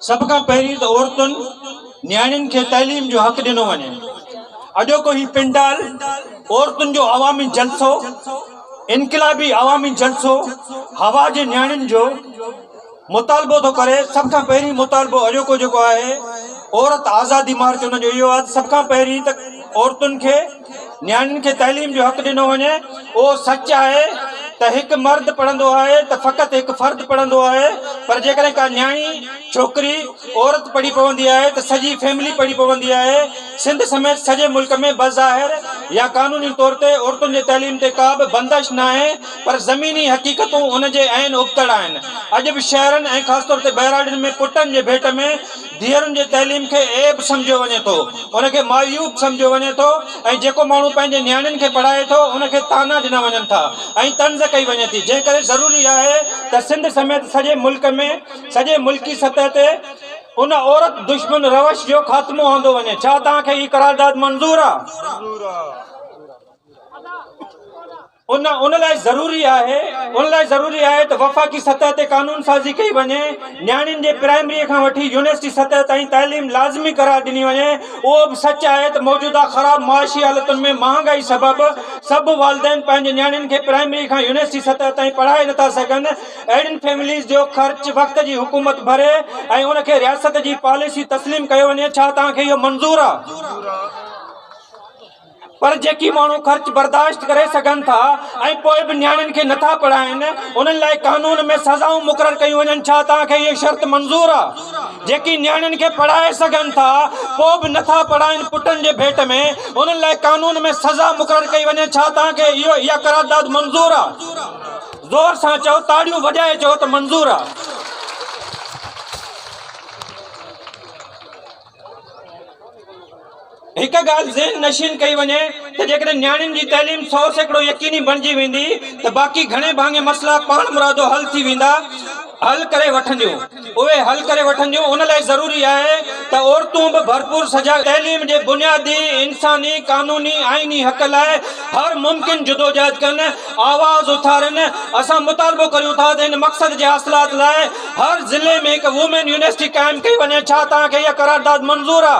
سڀ کان پهرين ته عورتن نياڻين کي تعليم جو حق ڏنو وڃي اڄوڪو هي پنڊال عورتن جو عوامي جلسو انقلابي عوامي جلسو هوا جي نياڻين جو مطالبو ٿو ڪري سڀ کان پهرين مطالبو اڄوڪو جيڪو آهي عورت آزادي مارچ ان جو اهو آهي سڀ کان پهرين ته عورتن کي نياڻين کي تعليم جو حق ڏنو وڃي. اهو سچ آهي ته هڪ مرد پڙهندو آهي ته فقط هڪ فرد پڙهندو آهي پر جيڪڏهن ڪا نياڻي، ڇوڪري، عورت پڙهي پوندي آهي ته سڄي فيملي پڙهي پوندي آهي. سنڌ سميت سڄي ملڪ ۾ بظاهر يا قانوني طور تي عورتن جي تعليم تي ڪا به بندش ناهي پر زميني حقيقتون ان جي عين ابتڙ آهن. اڄ به شهرن ۽ خاص طور تي ٻهراڙين ۾ پٽن جي ڀيٽ ۾ ڌيئرن جي تعليم کي عيب سمجهيو وڃي ٿو، ان کي معيوب سمجهيو وڃي ٿو ۽ جيڪو ماڻهو پنهنجي نياڻين کي پڙهائي ٿو ان کي طعنا ڏنا وڃن ٿا ۽ طنز ڪئي وڃي ٿي جنهن ڪري ضروري آهي ته سنڌ سميت سڄي ملڪ ۾ سڄي ملڪي سطح تي ان عورت دشمن روش جو خاتمو آندو وڃي ڇا توهان کي هي قرارداد منظور آهي؟ ان ان لاء ضروري آهي ان لاء ضروري آهي ته وفاقي سطح تي قانون سازي ڪئي وڃي نياڻين جي پرائمري کان وٺي يونيورسٽي سطح تائين تعليم لازمي قرار ڏني وڃي اهو به سچ آهي ته موجوده خراب معاشي حالتن ۾ مهانگائي سبب سڀ والدين پنهنجي نياڻين کي پرائمري کان يونيورسٽي سطح تائين پڙهائي نٿا سگهن اهڙين فيمليز جو خرچ وقت جي حڪومت ڀري ۽ ان کي رياست جي پاليسي تسليم ڪيو وڃي ڇا توهان کي اهو منظور آهي پر جيڪي ماڻهو خرچ برداشت ڪري سگهن ٿا ۽ پوء به نياڻين کي نه ٿا پڙهائين انهن لاء قانون ۾ سزائون مقرر ڪيون وڃن ڇا توهان کي اهي شرط منظور آ جيڪي نياڻين کي پڙهائي سگهن ٿا پوء به نه ٿا پڙهائين پٽن جي ڀيٽ ۾ انهن لاء قانون ۾ سزا مقرر ڪئي وڃي ڇا توهان کي اها قرارداد منظور آ زور سان چئو تاڙيون وڄائي چئو ته منظور آ. هڪ ڳالهه ذهن نشين ڪئي وڃي ته جيڪڏهن نياڻين جي تعليم سو سيڪڙو يقيني بڻجي ويندي ته باقي گهڻي ڀاڱي مسئلا پاڻمرادو حل ٿي ويندا حل ڪري وٺنديون اهي حل ڪري وٺنديون ان لاء ضروري آهي ته عورتون به ڀرپور سجاڳ تعليم جي بنيادي انساني قانوني آئيني حق لاء هر ممڪن جدوجهد ڪن آواز اٿارين اسان مطالبو ڪريون ٿا ته ان مقصد جي حاصلات لاء هر ضلعي ۾ هڪ وومين يونيورسٽي قائم ڪئي وڃي ڇا توهان کي اها قرارداد منظور آ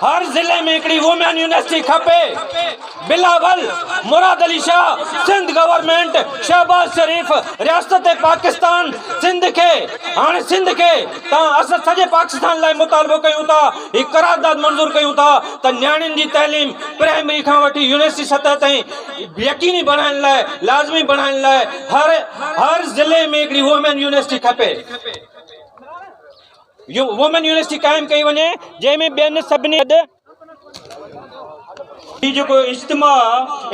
هر ضلعي ۾ هڪڙي وومين يونيورسٽي کپي بلاول مراد علي شاھ سنڌ گورنمينٽ شهباز شريف رياست پاڪستان سنڌ کي هاڻي سنڌ کي توهان اسان سڄي پاڪستان لاء مطالبو ڪيون ٿا هي قرارداد منظور ڪيون ٿا ته نياڻين جي تعليم پرائمري کان وٺي يونيورسٽي سطح تائين يقيني بڻائڻ لاء لازمي بڻائڻ لاء هر هر ضلعي ۾ هڪڙي وومين يونيورسٽي کپي وومين يونيورسٽي قائم ڪئي وڃي جنهن ۾ ٻين سڀني هي جيڪو اجتماع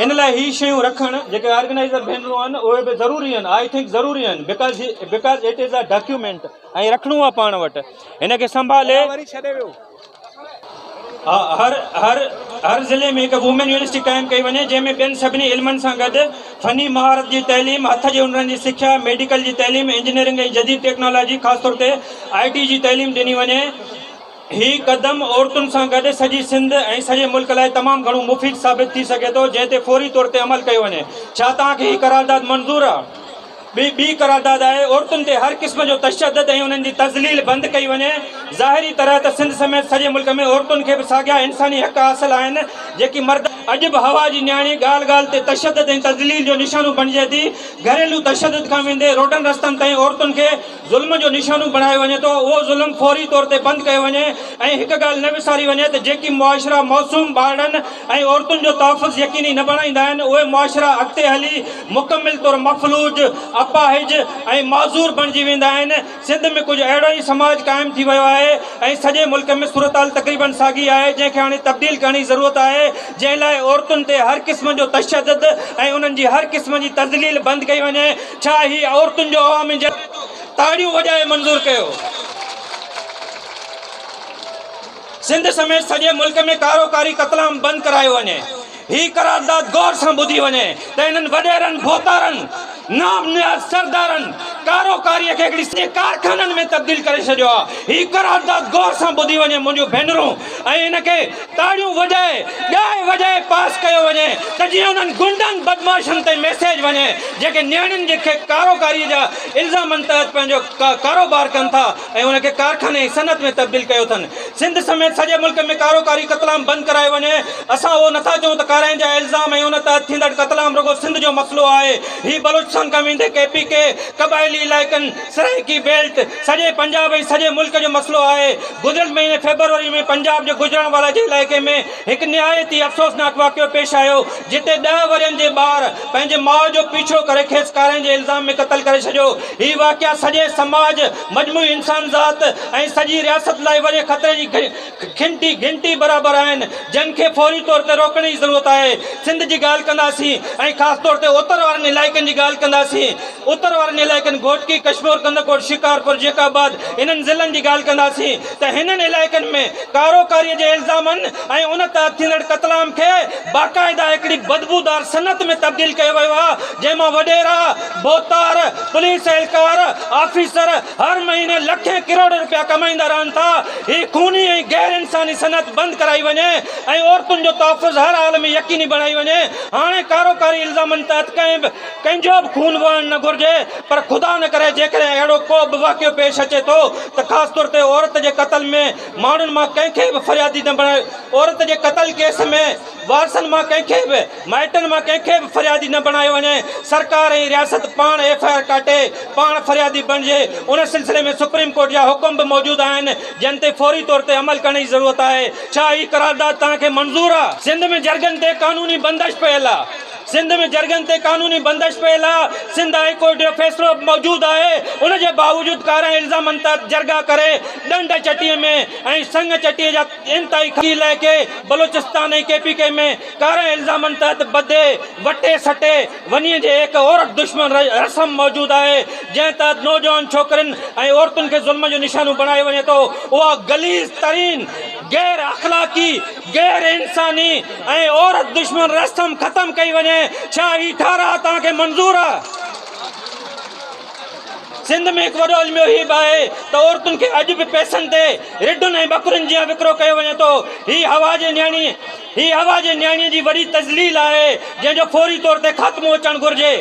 ان لاء هي شيون رکڻ جيڪي آرگنائزر ڀينرون آهن اهي به ضروري آهن آئي ٿنڪ ضروري آهن because because it is a document ۽ رکڻو آهي پاڻ وٽ هن کي سنڀالي هر هر هر ضلعي ۾ هڪ وومين يونيورسٽي قائم ڪئي وڃي جنهن ۾ ٻين سڀني علمن سان گڏ فني مهارت جي تعليم هٿ جي هنرن جي سکيا ميڊيڪل جي تعليم انجنيئرنگ ۽ جديد ٽيڪنالاجي خاص طور تي آء ٽي جي تعليم ڏني وڃي هي قدم عورتن سان گڏ سڄي سنڌ ۽ سڄي ملڪ لاء تمام گهڻو مفيد ثابت ٿي سگهي ٿو جنهن تي فوري طور تي عمل ڪيو وڃي ڇا توهان کي هي قرارداد منظور آهي ٻي ٻي قرارداد آهي عورتن تي هر قسم جو تشدد ۽ انهن جي تذليل بند ڪئي وڃي ظاهري طرح ته سنڌ سميت سڄي ملڪ ۾ عورتن کي به ساڳيا انساني حق حاصل آهن جيڪي مرد اڄ به هوا جي نياڻي ڳالهه ڳالهه تي تشدد ۽ تذليل جو نشانو بڻجي ٿي گهريلو تشدد کان ويندي روڊن رستن تائين عورتن کي ظلم جو نشانو بڻايو وڃي ٿو اهو ظلم فوري طور تي بند ڪيو وڃي ۽ هڪ ڳالهه نه وساري وڃي ته جيڪي معاشرا معصوم ٻارڙن ۽ عورتن جو تحفظ يقيني نه بڻائيندا آهن اهي معاشرا اڳتي هلي مڪمل طور مفلوج اپاهج ۽ معذور بڻجي ويندا آهن سنڌ ۾ ڪجهه اهڙو ئي سماج قائم ٿي ويو آهي ۽ سڄي ملڪ ۾ صورتحال تقريبن ساڳي آهي جنهن کي هاڻي تبديل ڪرڻ جي ضرورت آهي جنهن لاء عورتن تي هر قسم جو تشدد ۽ انهن جي هر قسم جي تذليل بند ڪئي وڃي ڇا هي عورتن جو عوامي جلسو آهي؟ تاڙيون وڄائي منظور ڪيو. سنڌ سميت سڄي ملڪ ۾ ڪارو ڪاري قتلام بند ڪرايو وڃي. هي قرارداد غور سان ٻڌي وڃي ته انهن وڏيرن، ڀوتارن، نام نهاد سردارن ڪارو ڪاري کي هڪڙي سڄي ڪارخانن ۾ تبديل ڪري ڇڏيو آهي. هي قرارداد غور سان ٻڌي وڃي منهنجون ڀينرون ۽ ان کي. تاڙيون وڄائي ڳائي وڄائي پاس ڪيو وڃي ته جيئن انهن غنڊن بدمعاشن تائين ميسيج وڃي جيڪي نياڻين جي کي ڪارو ڪاري جا الزامن تحت پنهنجو ڪارو بار ڪن ٿا ۽ ان کي ڪارخاني ۽ صنعت ۾ تبديل ڪيو اٿن سنڌ سميت سڄي ملڪ ۾ ڪارو ڪاري قتل عام بند ڪرايو وڃي اسان اهو نٿا چئون ته ڪارائين جا الزام ۽ ان تحت ٿيندڙ قتل عام رڳو سنڌ جو مسئلو آهي هي بلوچستان کان ويندي ڪي پي ڪي قبائلي علائقن سرائيڪي بيلٽ سڄي پنجاب ۽ سڄي ملڪ جو مسئلو آهي، گذريل مهيني فيبروري ۾ پنجاب جي گوجرانوالا جي علائقي ۾ هڪ نهايت ئي افسوسناڪ واقعو پيش آيو، جتي ڏهه ورهين جي ٻار پنهنجي ماء جو پيڇو ڪري کيس ڪارنهن جي الزام ۾ قتل ڪري ڇڏيو، هي واقعا سڄي سماج، مجموعي انسانذات ۽ سڄي رياست لاء وڏي خطري جي گهنٽي گهنٽي برابر آهن جن کي فوري طور تي روڪڻ جي ضرورت آهي سنڌ جي ڳالهه ڪنداسين ۽ خاص طور تي اتر وارن علائقن جي ڳالهه ڪنداسين اتر وارن علائقن گهوٽڪي ڪشمور ڪنڌڪوٽ شڪارپور جيڪب آباد انهن ضلعن جي ڳالهه ڪنداسين ته هنن علائقن ۾ ڪارو ڪاري جي الزامن ۽ ان تحت ٿيندڙ قتل عام کي باقاعده هڪڙي بدبودار صنعت ۾ تبديل ڪيو ويو آهي جنهن مان وڏيرا ڀوتار پوليس اهلڪار آفيسر هر مهيني لکين ڪروڙين رپيا ڪمائيندا رهن ٿا، هي خوني ۽ غير انساني صنعت بند ڪرائي وڃي ۽ عورتن جو تحفظ هر حال ۾ يقيني بڻائي وڃي، هاڻي ڪاروڪاري الزامن تحت ڪنهن به ڪنهن جو به خون وهڻ نه گهرجي پر خدا نه ڪري جيڪڏهن اهڙو ڪو به واقعو پيش اچي ٿو ته خاص طور تي عورت جي قتل ۾ ماڻهن مان ڪنهن کي به فريادي نه بڻايو عورت جي قتل ڪيس ۾ وارثن مان ڪنهن کي به مائٽن مان ڪنهن کي به فريادي نه بڻايو وڃي، سرڪار ۽ رياست پاڻ ايف آء آر ڪاٽي پاڻ فريادي بڻجي، ان سلسلي ۾ سپريم ڪورٽ جا حڪم به موجود آهن، جن تي فوري طور تي عمل ڪرڻ جي ضرورت آهي، ڇا هي قرارداد توهان کي منظور آ؟ سنڌ ۾ جرڳن تي قانوني بندش پيل آ سنڌ ۾ جرڳن تي قانوني بندش پيل آ، سنڌ هاء ڪورٽ جو فيصلو به موجود آهي، ان جي باوجود ڪارائين الزامن تحت جرڳا ڪري ڏنڊ چٽي ۾ ۽ سڱ چٽي جا انتهائي خطي علائقي بلوچستان ۽ ڪي پي ڪي ۾ ڪارن الزامن تحت ٻڌي، وٽي سٽي ونيء جي هڪ عورت دشمن رسم موجود آهي، جنهن تحت نوجوان ڇوڪرين ۽ عورتن کي ظلم جو نشانو بڻايو وڃي ٿو، اها غليظ ترين، غير اخلاقي، غير انساني ۽ عورت دشمن رسم ختم ڪئي وڃي، ڇا هي ٺهراء توهان کي منظور آهي؟ سنڌ ۾ هڪ وڏو علميو هي به آهي ته عورتن کي اڄ به پئسن تي رڍن ۽ ٻڪرين جيان وڪرو ڪيو وڃي ٿو. هي حوا جي نياڻي هي حوا جي نياڻيء جي وڏي تذليل آهي جنهن جو فوري طور تي خاتمو اچڻ گهرجي.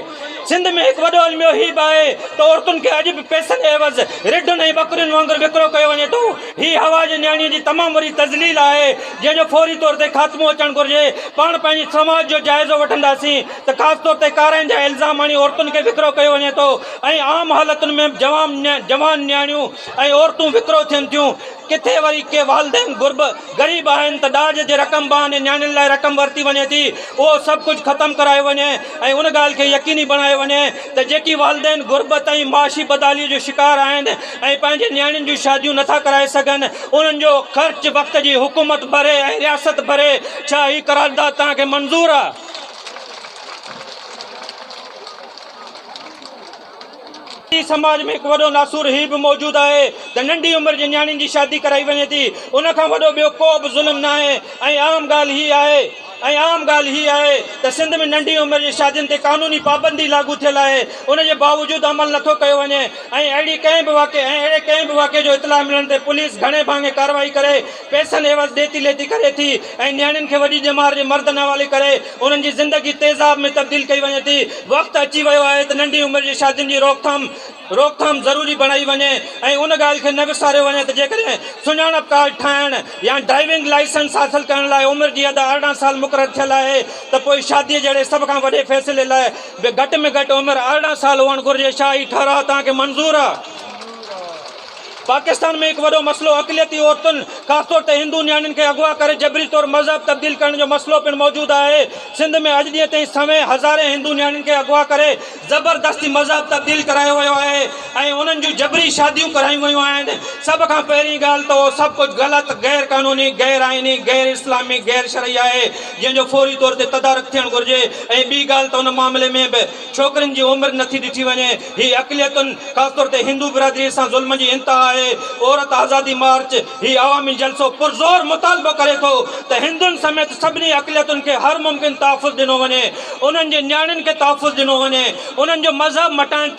سنڌ ۾ هڪ وڏو علميو هي به آهي ته عورتن کي اڄ به پئسن عيوض رڍن ۽ ٻڪرين وانگر وڪرو ڪيو وڃي ٿو. هي حوا جي نياڻيء جي تمام وڏي تذليل آهي جنهن جو فوري طور تي خاتمو اچڻ گهرجي. پاڻ پنهنجي سماج جو جائزو وٺنداسين. ته خاص طور تي ڪارائن جا الزام هڻي عورتن کي وڪرو ڪيو وڃي ٿو ۽ عام حالتن ۾ به جوان جوان نياڻيون ۽ عورتون وڪرو ٿين ٿيون ڪٿي وري ڪي والدين غرب غريب آهن ته ڏاج جي رقم بهاني نياڻين لاء رقم ورتي وڃي ٿي اهو سڀ ڪجهه ختم ڪرايو وڃي ۽ ان ڳالهه کي يقيني بڻايو وڃي ته جيڪي والدين غربت ۽ معاشي بدحالي جو شڪار آهن ۽ پنهنجي نياڻين جون شاديون نٿا ڪرائي سگهن انهن جو خرچ وقت جي حڪومت ڀري ۽ رياست ڀري ڇا هي قرارداد توهان کي منظور آهي سنڌي سماج ۾ هڪ وڏو ناسور هي به موجود آهي ته ننڍي عمر جي نياڻين جي شادي ڪرائي وڃي ٿي ان کان وڏو ٻيو ڪو به ظلم نه آهي ۽ عام ڳالهه هي آهي ۽ عام ڳالهه هي آهي ته سنڌ ۾ ننڍي عمر جي شادين تي قانوني پابندي لاڳو ٿيل آهي ان جي باوجود عمل نه ٿو ڪيو وڃي ۽ اهڙي ڪنهن به واقعي ۽ اهڙي ڪنهن به واقعي جو اطلاع ملڻ تي پوليس گهڻي ڀاڱي ڪارروائي ڪري پئسن عيوض ڏيتي ليتي ڪري ٿي ۽ نياڻين کي وڏي ڄمار جي مردن حوالي ڪري انهن جي زندگي تيزاب ۾ تبديل ڪئي وڃي ٿي. وقت اچي ويو آهي ته ننڍي عمر جي شادين جي روڪٿام روڪٿام ضروري بڻائي وڃي ۽ ان ڳالهه کي نه وساريو وڃي ته جيڪڏهن سڃاڻپ ڪارڊ ٺاهڻ يا ڊرائيونگ لائسنس حاصل ڪرڻ لاء عمر جي حد ارڙهن سال مقرر ٿيل آهي ته پوء شادي جهڙي سڀ کان وڏي فيصلي لاء به گهٽ ۾ گهٽ عمر ارڙهن سال هئڻ گهرجي. ڇا هي ٺهراء توهان کي منظور آهي؟ پاڪستان ۾ هڪ وڏو مسئلو اقليتي عورتن خاص طور تي هندو نياڻين کي اغوا ڪري جبري طور مذهب تبديل ڪرڻ جو مسئلو پڻ موجود آهي. سنڌ ۾ اڄ ڏينهن تائين سوين هزارين هندو نياڻين کي اغوا ڪري زبردستي مذهب تبديل ڪرايو ويو آهي ۽ انهن جون جبري شاديون ڪرايون ويون آهن. سڀ کان پهرين ڳالهه ته اهو سڀ ڪجهه غلط، غير قانوني، غير آئيني، غير اسلامي، غير شرعي آهي جنهن جو فوري طور تي تدارڪ ٿيڻ گهرجي ۽ ٻي ڳالهه ته ان معاملي ۾ به ڇوڪرين جي عمر نٿي ڏٺي وڃي، هي اقليتن خاص طور تي هندو برادري سان ظلم جي انتها آهي، عورت آزادي مارچ هي عوامي جلسو پرزور مطالبو ڪري ٿو ته هندن سميت سڀني اقليتن کي هر ممڪن تحفظ ڏنو وڃي، انهن جي نياڻين کي تحفظ ڏنو وڃي، انهن جو مذهب مٽائڻ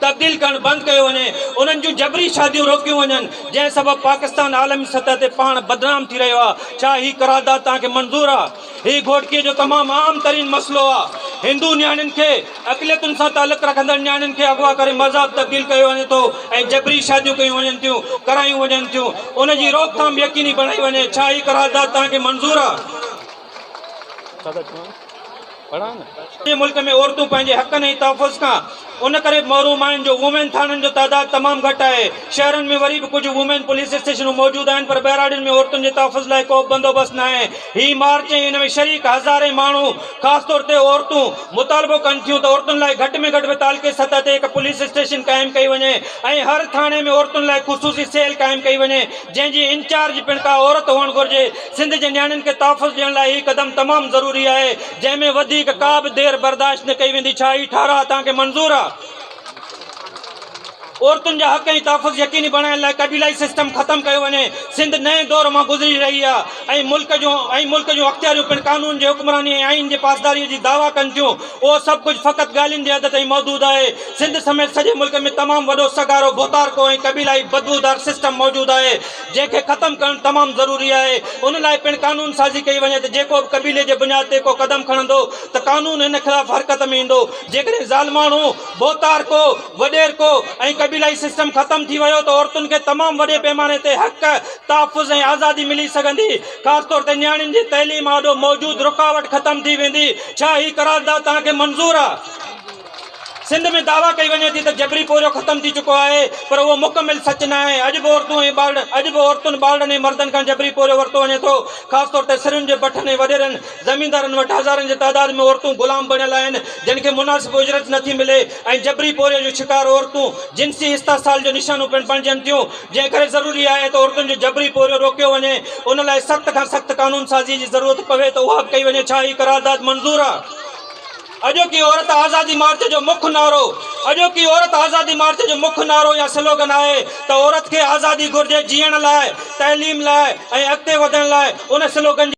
تبديل ڪرڻ بند ڪيو وڃي، انهن جون جبري شاديون روڪيون وڃن، جنهن سبب پاڪستان عالمي سطح تي پاڻ بدنام ٿي رهيو آهي، ڇا هي قرارداد توهان کي منظور آهي؟ هي گهوٽڪي جو تمام عام ترين مسئلو آ. هندو نياڻين کي، اقليتن سان تعلق رکندڙ نياڻين کي اغوا ڪري مذهب تبديل ڪيو وڃي ٿو ۽ جبري شاديون ڪيون وڃن ٿيون، ڪرايون وڃن ٿيون. ان جي روڪٿام يقيني بڻائي وڃي. ڇا هي قرارداد توهان کي منظور آ؟ جي ملڪ ۾ عورتون پنهنجي حقن ۽ تحفظ کان ان ڪري محروم آهن جو وومين ٿاڻن جو تعداد تمام گهٽ آهي. شهرن ۾ وري به ڪجهه وومين پوليس اسٽيشنون موجود آهن پر ٻهراڙين ۾ عورتن جي تحفظ لاء ڪوبه بندوبست ناهي. هي مارچ ۽ ان ۾ شريڪ هزارين ماڻهو خاص طور تي عورتون مطالبو ڪن ٿيون ته عورتن لاء گهٽ ۾ گهٽ به تعلقي سطح تي هڪ پوليس اسٽيشن قائم ڪئي وڃي ۽ هر ٿاڻي ۾ عورتن لاء خصوصي سيل قائم ڪئي وڃي جنهن جي انچارج پڻ ڪا عورت هئڻ گهرجي. سنڌ جي نياڻين کي تحفظ ڏيڻ لاء هي قدم تمام ضروري آهي. جنهن ۾ وڌيڪ ڪا به دير برداشت نه ڪئي ويندي، ڇا هي ٺهراء توهان کي منظور آ؟ عورتن جا حق ۽ تحفظ يقيني بڻائڻ لاء قبيلائي سسٽم ختم ڪيو وڃي، سنڌ نئين دور مان گذري رهي آ ۽ ملڪ جون ۽ ملڪ جون اختياريون پڻ قانون جي حڪمراني ۽ آئين جي پاسداري جي دعويٰ ڪن ٿيون، اهو سڀ ڪجهه فقط ڳالهين جي حد تائين محدود آهي، سنڌ سميت سڄي ملڪ ۾ تمام وڏو سگهارو، ڀوتارڪو ۽ قبيلائي بدبودار سسٽم موجود آهي، جنهن کي ختم ڪرڻ تمام ضروري آهي ان لاء پڻ قانون سازي ڪئي وڃي ته جيڪو به قبيلي جي بنياد تي ڪو قدم کڻندو ته قانون ان خلاف حرڪت ۾ ايندو جيڪڏهن ظالماڻو ڀوتارڪو وڏيرڪو ۽ قبيلائي سسٽم ختم ٿي ويو ته عورتن کي تمام وڏي پيماني تي حق تحفظ ۽ آزادي ملي سگهندي خاص طور تي نياڻين جي تعليم آڏو موجود رڪاوٽ ختم ٿي ويندي ڇا هي قرارداد توهان کي منظور آهي سنڌ ۾ دعويٰ ڪئي وڃي ٿي ته جبري پورهيو ختم ٿي چڪو آهي پر اهو مڪمل سچ ناهي، اڄ به عورتون ۽ ٻارڙن اڄ به عورتن، ٻارڙن ۽ مردن کان جبري پورهيو ورتو وڃي ٿو، خاص طور تي سرن جي بٺن ۽ وڏيرن، زميندارن وٽ هزارن جي تعداد ۾ عورتون غلام بڻيل آهن جن کي مناسب اجرت نٿي ملي ۽ جبري پورهيي جو شڪار عورتون جنسي استحصال جو نشانو پڻ بڻجن ٿيون جنهن ڪري ضروري آهي ته عورتن جو جبري پورهيو روڪيو وڃي ان لاء سخت کان سخت قانون سازي جي ضرورت پوي ته اها به ڪئي وڃي ڇا هي قرارداد منظور آهي؟ اڄوڪي عورت آزادي مارچ جو مک نعرو اڄوڪي عورت آزادي مارچ جو مک نعرو يا سلوگن آهي ته عورت کي آزادي گهرجي جيئڻ لاء، تعليم لاء ۽ اڳتي وڌڻ لاء ان سلوگن جي.